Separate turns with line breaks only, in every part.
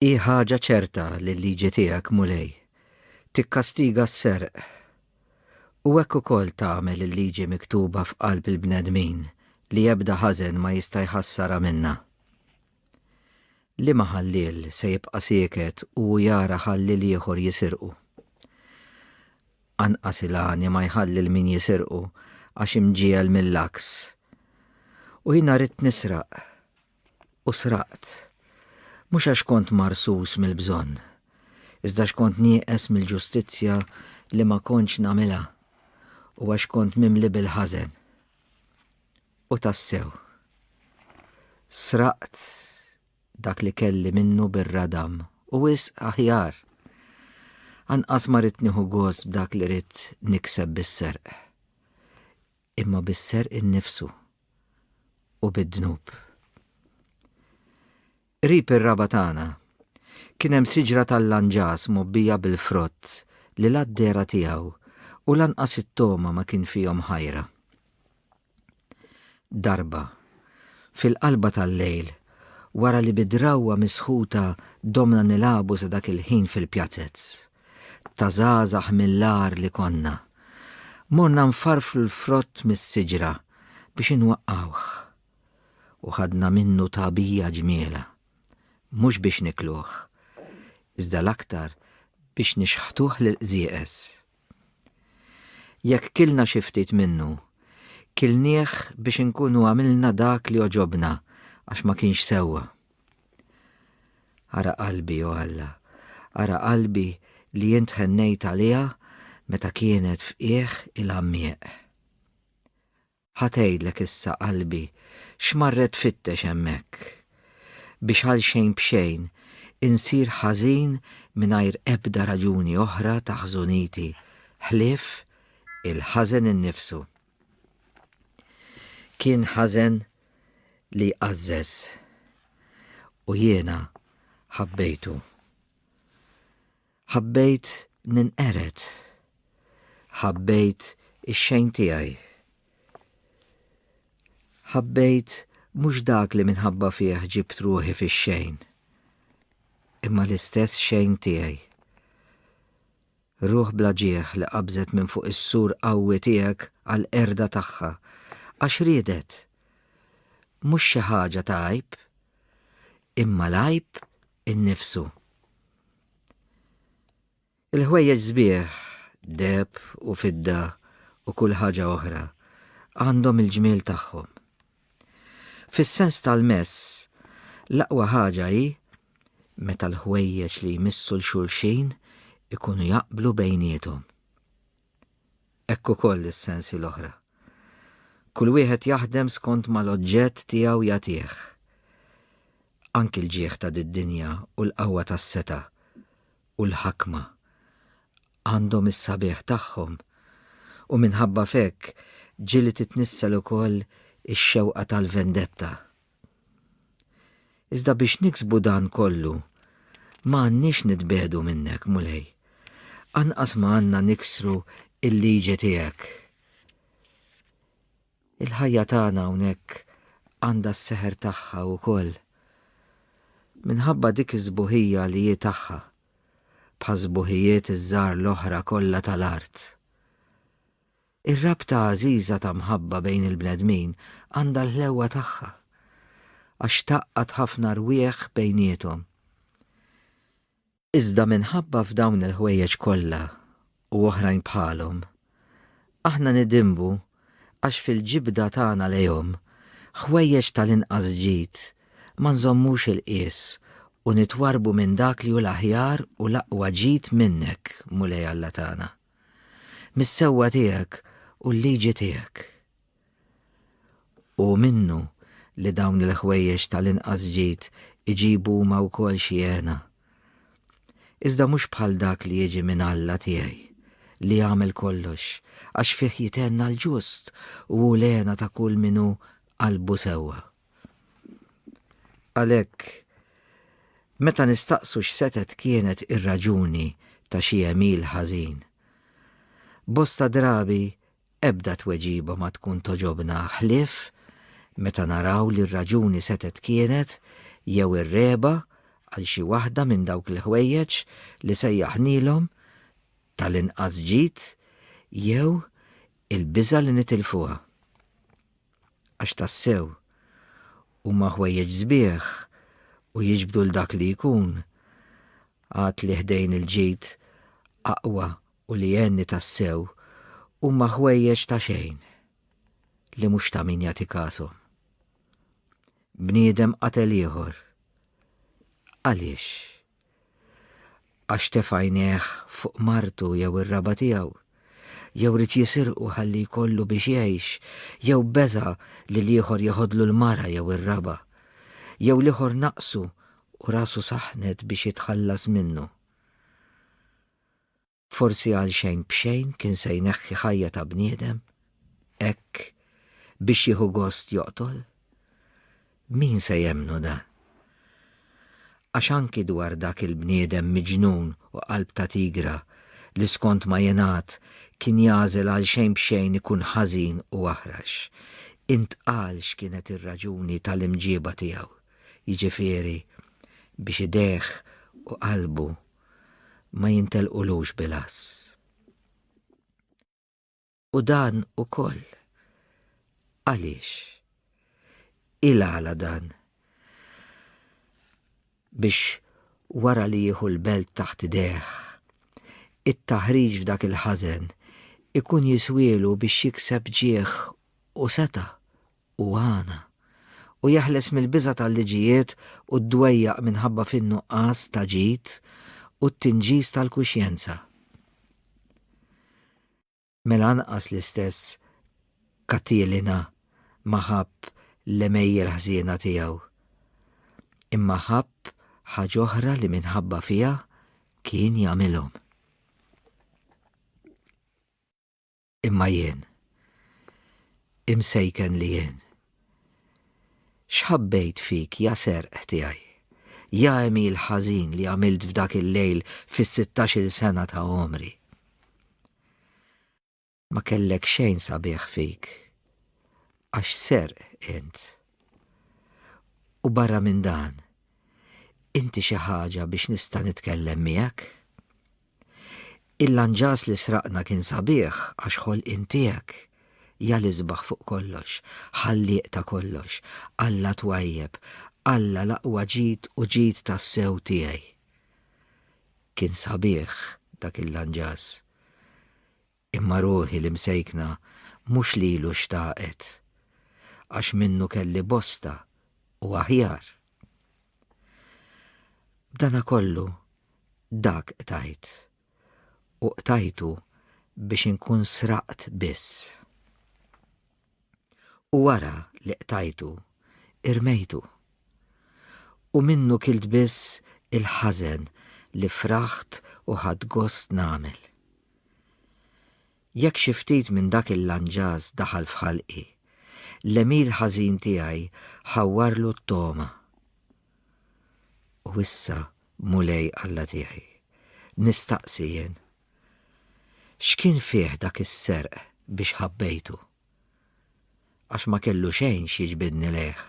Hi ħaġa ċerta li l-liġi tiegħek, Mulej, tikkastiga s-serq, u hekk ukoll tagħmel il-liġi miktuba f'qalb il-bnedmin li ebda ħażen ma jista' jħassarha minnha. Liema ħalliel se jibqa' sieket u hu jara ħalliel ieħor jisirqu? Anqas il-għani ma jħalli 'l min jisirqu għax imġiegħel mill-għaks. U jiena ridt nisraq, U sraqt, mhux għax kont marsus mill-bżonn, iżda għax kont nieqes mill-ġustizzja li ma kontx nagħmilha u għax kont mimli bil-ħażen. U tassew, sraqt dak li kelli minnu bir-radam, u wisq aħjar! Anqas ma ridt nieħu gost b'dak li ridt nikseb bis-serq. imma bis-serq innifsu u bid-dnub. Qrib ir-raba' tagħna kien hemm siġra tal-lanġas mgħobbija bil-frott li la d-dehra tiegħu u lanqas it-togħma ma kien fihom ħajra. Darba, fil-qalba tal-lejl, wara li bi drawwa misħuta domna nilagħbu sa dak il-ħin fil-pjazez, ta' żgħażagħ mill-agħar li konna, morna nfarfru l-frott mis-siġra biex inwaqqgħuh. U ħadna minnu tagħbija ġmielha, mhux biex nikluh, iżda l-aktar biex nixħtuh lill-qżieqeż. Jekk kilna xi ftit minnu, kilnieh biex inkunu għamilna dak li għoġobna għax ma kienx sewwa. Ara qalbi, o Alla, ara qalbi li int ħennejt għaliha meta kienet f'qiegħ il-għammieq. Ħa tgħidlek issa qalbi x'marret tfittex hemmhekk, biex għal xejn b'xejn insir ħażin mingħajr ebda raġuni oħra ta' ħżuniti ħlief il-ħażen innifsu. Kien ħażen li għażżeż u jiena ħabbejtu. Ħabbejt ninqered. Ħabbejt ix-xejn tiegħi. Ħabbejt mhux dak li minħabba fih ġibt ruħi fix-xejn, imma l-istess xejn tiegħi. Ruħ bla ġieħ li qabżet minn fuq is-sur qawwi tiegħek għall-qerda tagħha, għax riedet, mhux xi ħaġa ta' għajb, imma l-għajb innifsu. Il-ħwejjeġ sbieħ, deheb u fidda u kull ħaġa oħra, għandhom il-ġmiel tagħhom. Fis-sens tal-mess, l-aqwa ħaġa hi meta l-ħwejjeġ li jmissu 'l xulxin ikunu jaqblu bejniethom. Hekk ukoll is-sensi l-oħra. Kull wieħed jaħdem skont ma l-oġġett tiegħu jagħtih. Anki l-ġieħ ta' did-dinja u l-qawwa tas-setgħa u l-ħakma għandhom is-sabiħ tagħhom u minħabba f'hekk ġieli titnissel ukoll ix-xewqa tal-vendetta. Iżda biex niksbu dan kollu, ma għandniex nitbiegħdu minnek, Mulej. Anqas ma għandna niksru l-liġi tiegħek. Il-ħajja tagħna hawnhekk għandha s-seħer tagħha wkoll. Minħabba dik is-sbuħija li hi tagħha, bħas-sbuħijiet iż-żgħar l-oħra kollha tal-art. Ir-rabta għażiża ta' mħabba bejn il-bnedmin għandha l-ħlewwa tagħha, għax tgħaqqad ħafna rwieħ bejniethom. Iżda minħabba f'dawn il-ħwejjeġ kollha u oħrajn bħalhom, aħna nidinbu għax fil-ġibda tagħna lejhom ħwejjeġ tal-inqas ġid ma nżommux il-qies u nitwarrbu minn dak li hu l-aħjar u l-aqwa ġid minnek, Mulej Alla tagħna. Mis-sewwa tiegħek u l-liġi tiegħek. Hu minnu li dawn il-ħwejjeġ tal-inqas ġid iġibu huma wkoll xi hena. Iżda mhux bħal dak li jiġi minn Alla tiegħi, li jagħmel kollox, għax fih jithenna l-ġust u hu l-hena ta' kull min hu qalbu sewwa. Għalhekk, meta nistaqsu x'setgħet kienet ir-raġuni ta' xi għemil ħażin, bosta drabi Ebda tweġiba ma tkun togħġobna ħlief meta naraw li r-raġuni setgħet kienet jew ir-regħba għal xi waħda minn dawk l-ħwejjeġ li sejjaħnielhom tal-inqas ġid jew il-biża' li nitilfuha. Għax tassew, huma ħwejjeġ sbieħ u jiġbdu 'l dak li jkun għad li ħdejn il-ġid aqwa u li għenni tassew huma ħwejjeġ ta' xejn li mhux ta' min jagħti kashom. Bniedem qatel ieħor. Għaliex? Għax tef għajnejh fuq martu jew ir-raba tiegħu, jew rid jisirqu ħalli jkollu biex jgħix, jew beża li l-ieħor jeħodlu l-mara jew ir-raba, jew l-ieħor naqsu u rasu saħnet biex jitħallas minnu. Forsi għal xejn b'xejn kien se jneħħi ħajja ta' bniedem, hekk biex jieħu gost joqtol? Min se jemmnu dan? Għax anki dwar dak il-bniedem miġnun u qalb ta' tigra li skont ma jingħad kien jagħżel għal xejn b'xejn ikun ħażin u aħrax, intqal x'kienet ir-raġuni tal-imġieba tiegħu, jiġifieri biex idejh u qalbu ma jintelqulux bil-għass. U dan ukoll. Għaliex? Il-għala dan? Biex wara li jieħu l-belt taħt idejh, it-taħriġ f'dak il-ħażen ikun jiswielu biex jikseb ġieħ u seta' u għana, u jeħles mill-biża' tal-liġijiet u d-dwejjaq minħabba fin-nuqqas ta' ġid u t-tinġis tal-kuxjenza. Mela anqas l-istess Katilina ma ħabb l-għemejjel ħżiena tiegħu, imma ħabb ħaġa oħra li minħabba fiha kien jagħmilhom. Imma jien, imsejken li jien, xħabbejt fik ja serq tiegħi, ja emil ħażin li għamilt f'dak il-lejl fis-sittax-il sena ta' għomri. Ma kellek xejn sabiħ fik, għax serq int. U barra minn dan, inti xi ħaġa biex nista' nitkellem miegħek? Il-lanġas li sraqtna kien sabiħ għax ħolqien tiegħek. Ja l-isbaħ fuq kollox, Ħallieq ta' kollox, Alla twajjeb, Alla l-aqwa ġid u ġid tassew tiegħi. Kien sabiħ dak il-lanġas. Imma ruħi l-imsejkna mhux lilu xtaqet, għax minnu kelli bosta u aħjar. B'dana kollu, dak qtajt, u qtajtu biex inkun sraqt biss. U wara li qtajtu, irmejtu. U minnu kilt biss il-ħażen li fraħt u ħadt gost nagħmel. Jekk xi ftit minn dak il-lanġas daħal f'ħalqi, l-għemil ħażin tiegħi ħawwarlu t-togħma. U issa, Mulej Alla tiegħi, nistaqsi jien, X'kien fih dak is-serq biex ħabbejtu? Għax ma kellu xejn x'jiġbidni lejh.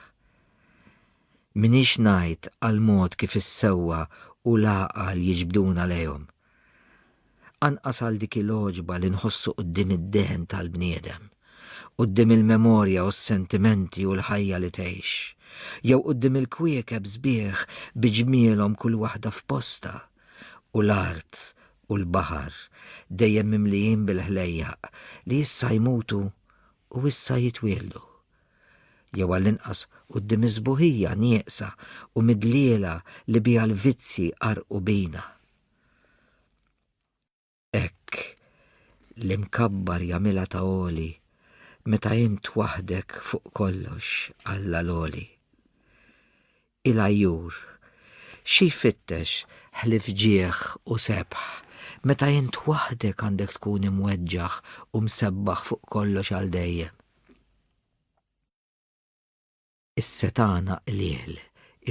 M'iniex ngħid għall-mod kif is-sewwa u l-għaqal jiġbduna lejhom. Anqas għal dik il-għoġba li nħossu quddiem id-dehen tal-bniedem, quddiem il-memorja u s-sentimenti u l-ħajja li tgħix, jew quddiem il-kwiekeb sbieħ bi ġmielhom kull waħda f'postha. u l-art u l-baħar dejjem mimlijin bil-ħlejjaq li issa jmutu u issa jitwieldu. Jew għall-inqas quddiem is-sbuħija nieqsa u midliela li biha l-vizzji qarrqu bina. Hekk, l-imkabbar jagħmilha ta' għoli, meta int waħdek fuq kollox, Alla l-għoli. Il-għajjur, xi jfittex ħlief ġieħ u sebħ, meta int waħdek għandek tkun imweġġaħ u msebbaħ fuq kollox għal dejjem? Is-setgħana qliel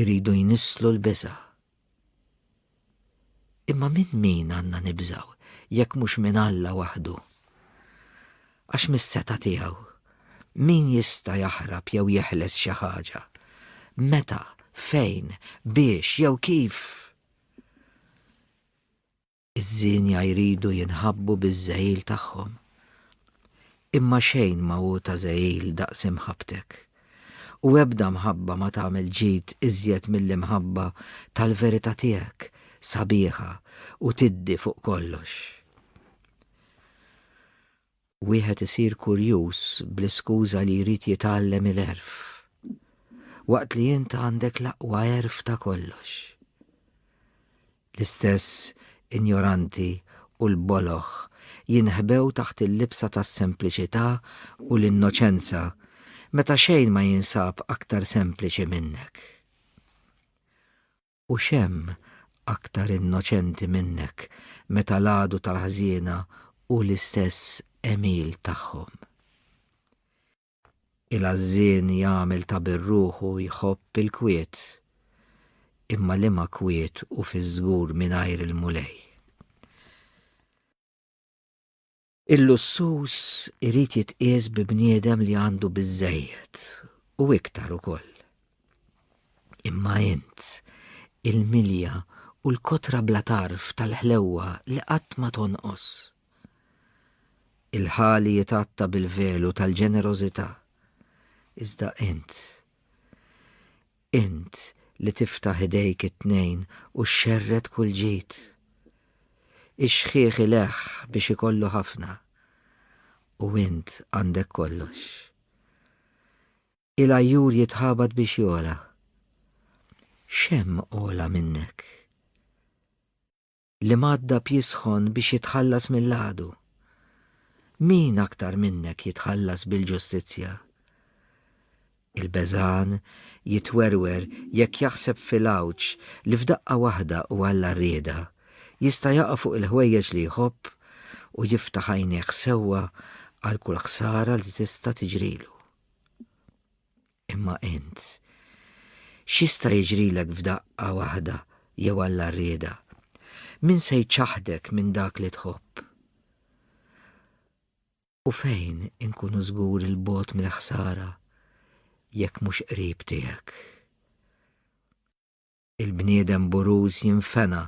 iridu jnisslu l-biża'. Imma minn min għandna nibżgħu jekk mhux minn Alla waħdu? Għax mis-setgħa tiegħu, min jista' jaħrab jew jeħles xi ħaġa? Meta, fejn, biex jew kif? Iż-żienja jridu jinħabbu biż-żehil tagħhom. Imma xejn ma hu ta' żehil daqs imħabbtek. U ebda mħabba ma tagħmel ġid iżjed mill-imħabba tal-verità tiegħek, sabiħa u tiddi fuq kollox. Wieħed isir kurjuż bl-iskuża li jrid jitgħallem il-għerf, waqt li int għandek l-aqwa għerf ta' kollox. L-istess injoranti u l-boloh jinħbew taħt il-libsa tas-sempliċità u l-innoċenza meta xejn ma jinsab aktar sempliċi minnek. U x'hemm aktar innoċenti minnek meta l-għadu tal-ħżiena hu l-istess għemil tagħhom? Il-għażżien jagħmel ta' bir-ruħu jħobb il-kwiet, imma liema kwiet hu fiż-żgur mingħajr il-Mulej? Il-lussuż irid jitqies bi bniedem li għandu biżżejjed u iktar ukoll. Imma int, il-milja u l-kotra bla tarf tal-ħlewwa li qatt ma tonqos. Il-ħali jitgħatta bil-velu tal-ġenerożità, iżda int, Int li tiftaħ idejk it-tnejn u xxerred kull ġid. Ix-xħiħ ileħħ biex ikollu ħafna, u int għandek kollox. Il-għajjur jitħabat biex jogħla. X'hemm ogħla minnek? li madda b'jisħon biex jitħallas mill-għadu. Min aktar minnek jitħallas bil-ġustizzja? Il-beżan jitwerwer jekk jaħseb fil-għawġ li f'daqqa waħda u għalla rieda jista' jaqa' fuq il-ħwejjeġ li jħobb u jiftaħ għajnejh sewwa għal kull ħsara li tista' tiġrilu. Imma int, x'jista' jiġrilek f'daqqa waħda jew Alla rrieda? Min se jċaħħdek minn dak li tħobb? U fejn inkunu żgur il-bogħod mill-ħsara jekk mhux qrib tiegħek? Il-bniedem buruż jinfena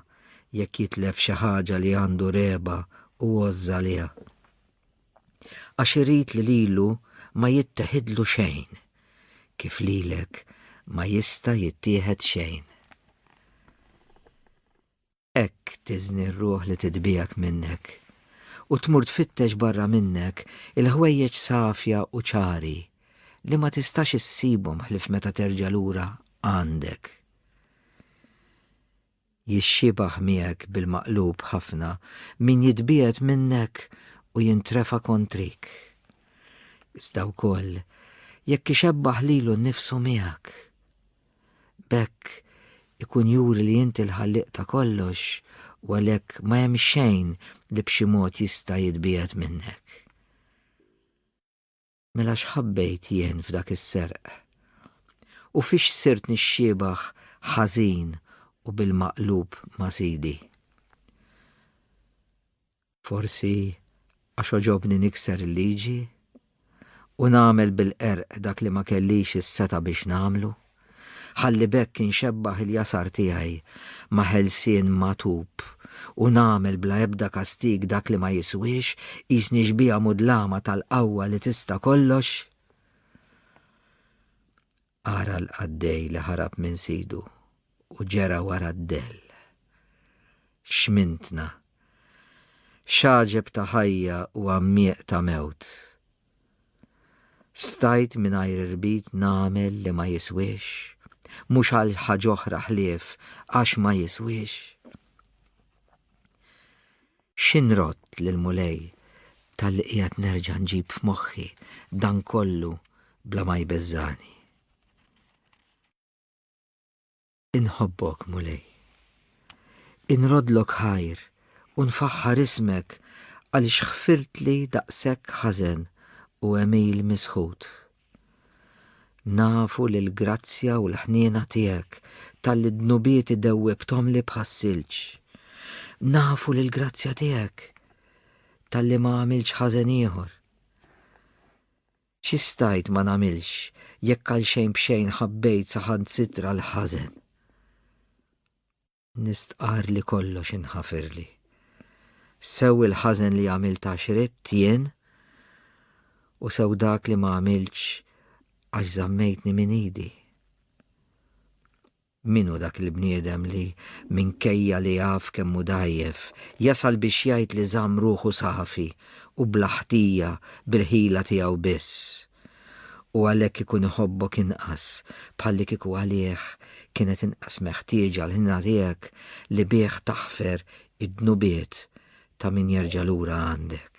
jekk jitlef xi ħaġa li għandu regħba u għożża għaliha. Għax irid li lilu ma jitteħidlu xejn, kif lilek ma jista' jittieħed xejn. Hekk tiżni r-ruħ li titbiegħek minnek, u tmur tfittex barra minnek il-ħwejjeġ safja u ċari li ma tistax issibhom ħlief meta terġa' lura għandek. Jixxiebah miegħek bil-maqlub ħafna min jitbiegħed minnek u jintrefa' kontrik. Iżda wkoll jekk ixebbah lilu nnifsu miegħek. B'hekk ikun juri li inti l-Ħallieq ta' kollox u għalhekk ma hemm xejn li b'xi mod jista' jitbiegħed minnek. Mela x'ħabbejt jien f'dak is-serq? U fiex sirt nixxiebah ħażin u bil-maqlub ma' Sidi? Forsi għax għoġobni nikser il-liġi u nagħmel bil-qerq dak li ma kellix is-setgħa biex nagħmlu, ħalli b'hekk inxebbaħ il-jasar tiegħi ma' ħelsien magħtub u nagħmel bla ebda kastig dak li ma jiswiex, qisni xbieha mudlama tal-qawwa li tista' kollox? Ara l-qaddej li ħarab minn sidu u ġera wara d-dell. X'mintna! X'għaġeb ta' ħajja u għammieq ta' mewt! Stajt mingħajr irbit nagħmel li ma jiswiex, mhux għal ħaġ'oħra ħlief għax ma jiswiex. Xi nrodd lill-Mulej talli qiegħed nerġa' nġib f'moħħi dan kollu bla ma jbeżżagħni? Inħobbok, Mulej. Inroddlok ħajr u nfaħħar ismek għaliex ħfirtli daqshekk ħażen u għemil misħut. Nafu li l-grazzja u l-ħniena tiegħek talli d-dnubieti dewwibthomli bħas-silġ. Nafu li l-grazzja tiegħek talli ma għamiltx ħażen ieħor. Xi stajt ma nagħmilx jekk għal xejn b'xejn ħabbejt saħansitra l-ħażen? Nistqarr li kollox inħafirli. Sew il-ħażen li għamilt għax ridt jien, u sew dak li ma għamiltx għax żammejtni minn idi. Min hu dak il-bniedem li minkejja li jaf kemm hu dgħajjef, jasal biex jgħid li żamm ruħu safi u bla ħtija bil-ħila tiegħu biss? u għalhekk ikun iħobbok inqas, bħallikieku għalih kienet inqas meħtieġa l-ħniena tiegħek li bih taħfer id-dnubiet ta' min jerġa' lura għandek.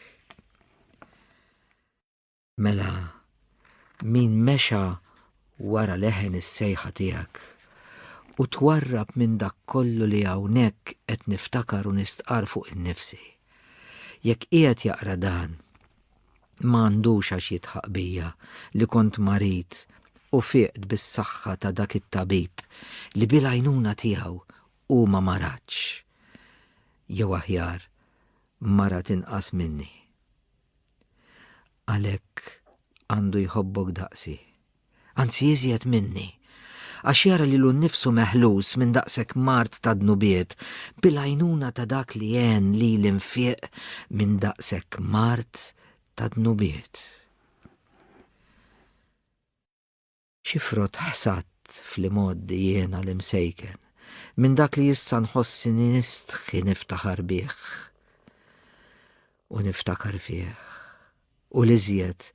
Mela, min mexa wara leħen is-sejħa tiegħek u twarrab minn dak kollu li hawnhekk qed niftakar u nistqar fuq innifsi. Jekk qiegħed jaqra dan, ma għandux għax jidħaq bija li kont marid u fieqt bis-saħħa ta' dak it-tabib li bil-għajnuna tiegħu hu ma maradx. Jew aħjar, marad inqas minni. Għalhekk għandu jħobbok daqsi. anzi iżjed minni, għax jara lilu nnifsu meħlus minn daqshekk mard ta' dnubiet bil-għajnuna ta' dak li għen lili nfieq minn daqshekk mard ta' dnubiet. Xi frott ħsadt fl-imgħoddi jiena l-imsejken minn dak li issa nħossini nistħi niftaħar bih u niftakar fih. u l-iżjed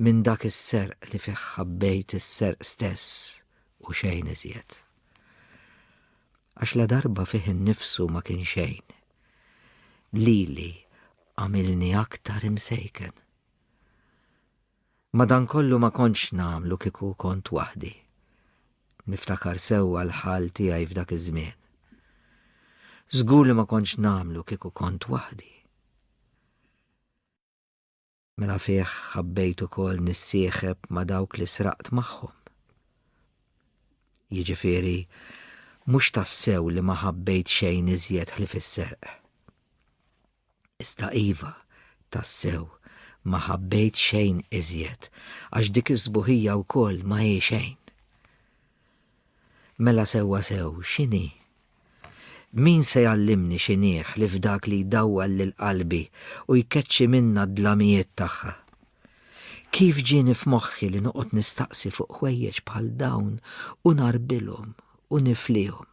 minn dak is-serq li fih ħabbejt is-serq stess u xejn iżjed. Għax ladarba fih innifsu ma kien xejn, lili għamilni aktar imsejken. Madankollu ma kontx nagħmlu kieku kont waħdi. Niftakar sewwa l-ħal tiegħi f'dak iż-żmien. Żgur li ma kontx nagħmlu kieku kont waħdi. Minafih ħabbejt ukoll nissieħeb ma' dawk li sraqt magħhom. Jiġifieri, mhux tassew li ma ħabbejt xejn iżjed ħlief is-serq. Iżda iva, tassew, ma ħabbejt xejn iżjed, għax dik is-sbuħija wkoll ma hi xejn. Mela sewwa sew, x'inhi? Min se jgħallimni x'inhi ħlief dak li jdawwal lil qalbi u jkeċċi minnha d-dlamijiet tagħha? Kif ġieni f'moħħi li noqgħod nistaqsi fuq ħwejjeġ bħal dawn u ngħarbilhom u niflihom?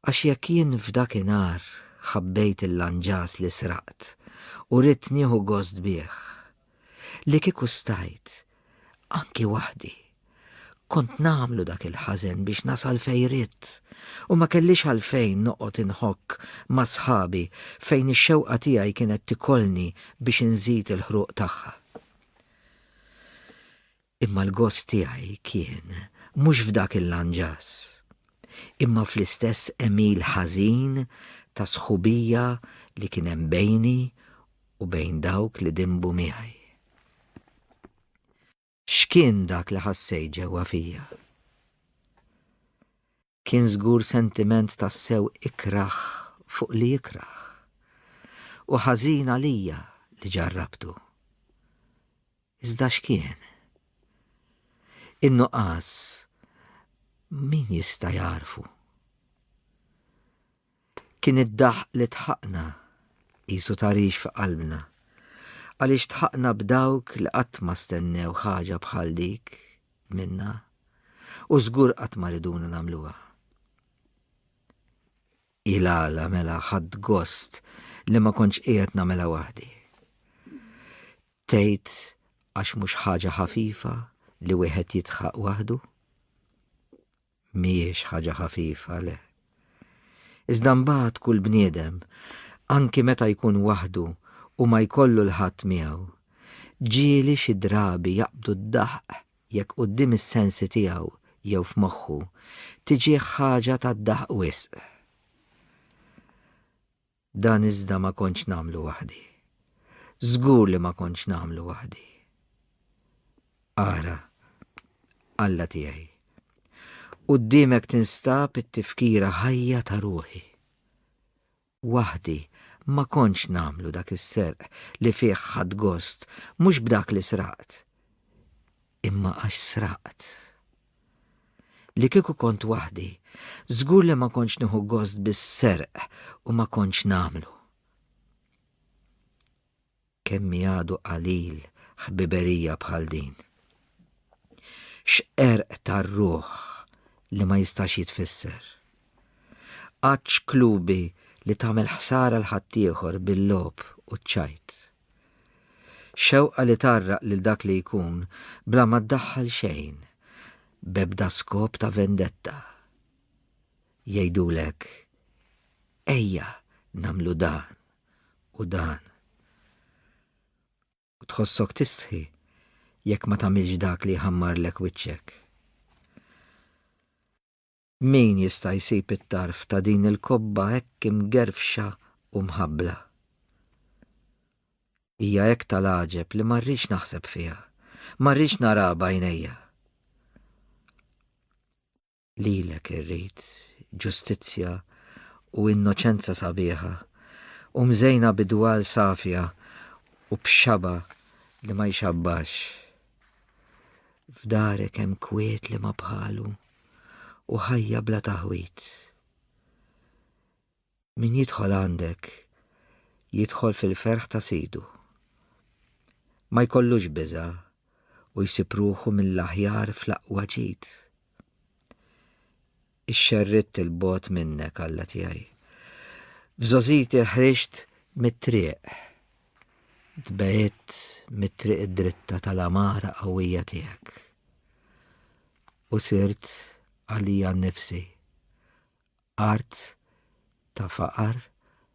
Għax jekk jien f'dakinhar ħabbejt il-lanġas li sraqt u ridt nieħu gost bih, li kieku stajt, anki waħdi, kont nagħmlu dak il-ħażen biex nasal fejn ridt u ma kellix għalfejn noqgħod inħokk ma' sħabi fejn ix-xewqa tiegħi kienet tikolni biex inżid il-ħruq tagħha. Imma l-gost tiegħi kien mhux f'dak il-lanġas, imma fl-istess għemil ħażin ta' sħubija li kien hemm bejni u bejn dawk li dinbu miegħi. X'kien dak li ħassejt ġewwa fija? Kien żgur sentiment tassew ikrah fuq li jikrah, u ħażin għalija li ġarrabtu. Iżda x'kien? In-nuqqas min jista' jagħrfu? Kien id-daħq li dħaqna, qisu tagħrix fi qalbna, għaliex dħaqna b'dawk li qatt ma stennew ħaġa bħal dik minna u żgur qatt ma riduna nagħmluha. Hi l-għala mela ħadt gost li ma kontx qiegħed nagħmilha waħdi. Tgħid għax mhux ħaġa ħafifa li wieħed jidħaq waħdu? Mhijiex ħaġa ħafifa, le. Iżda mbagħad kull bniedem, anki meta jkun waħdu u ma jkollu 'l ħadd miegħu, ġieli xi drabi jaqbdu d-daħq jekk quddiem is-sensi tiegħu jew f'moħħu tiġih ħaġa tad-daħq wisq. Dan iżda ma kontx nagħmlu waħdi. Żgur li ma kontx nagħmlu waħdi. Ara, Alla tiegħi, quddiemek tinstab it-tifkira ħajja ta' ruħi. Waħdi ma kontx nagħmlu dak is-serq li fih ħadd gost mhux b'dak li sraqt, imma għax sraqt. Li kieku kont waħdi, żgur li ma kontx nieħu gost bis-serq u ma kontx nagħmlu. Kemm hi għadu qalil ħbiberija bħal din! X'qerq tar-ruħ li ma jistax jitfisser! Għadd x'klubi li tagħmel ħsara 'l ħaddieħor bil-logħob u ċ-ċajt. Xewqa li tgħarraq lil dak li jkun bla ma ddaħħal xejn, b'ebda skop ta' vendetta. Jgħidulek, Ejja nagħmlu dan u dan. U tħossok tistħi jekk ma tagħmilx dak li jħammarlek wiċċek. Min jista' jsib it-tarf ta' din il-kobba hekk imgerfxa u mħabbla? Hija hekk tal-għaġeb li ma rridx naħseb fiha, ma rridx naraha b'għajnejja. Lilek irrid ġustizzja u innoċenza sabiħa u mżejna b'idwal safja u b'xaba li ma jxabbax. F'darek hemm kwiet li ma bħalu u ħajja bla taħwit. Min jidħol għandek jidħol fil-ferħ ta' sidu. Ma jkollux biża' u jsib ruħu mill-aħjar fl-aqwa ġid. ixxerridt 'il bogħod minnek, Alla tiegħi. F'żogħżiti ħriġt mit-triq. Tbegħidt mit-triq id-dritta tal-għamara qawwija tiegħek. U sirt għalija nnifsi art ta' faqar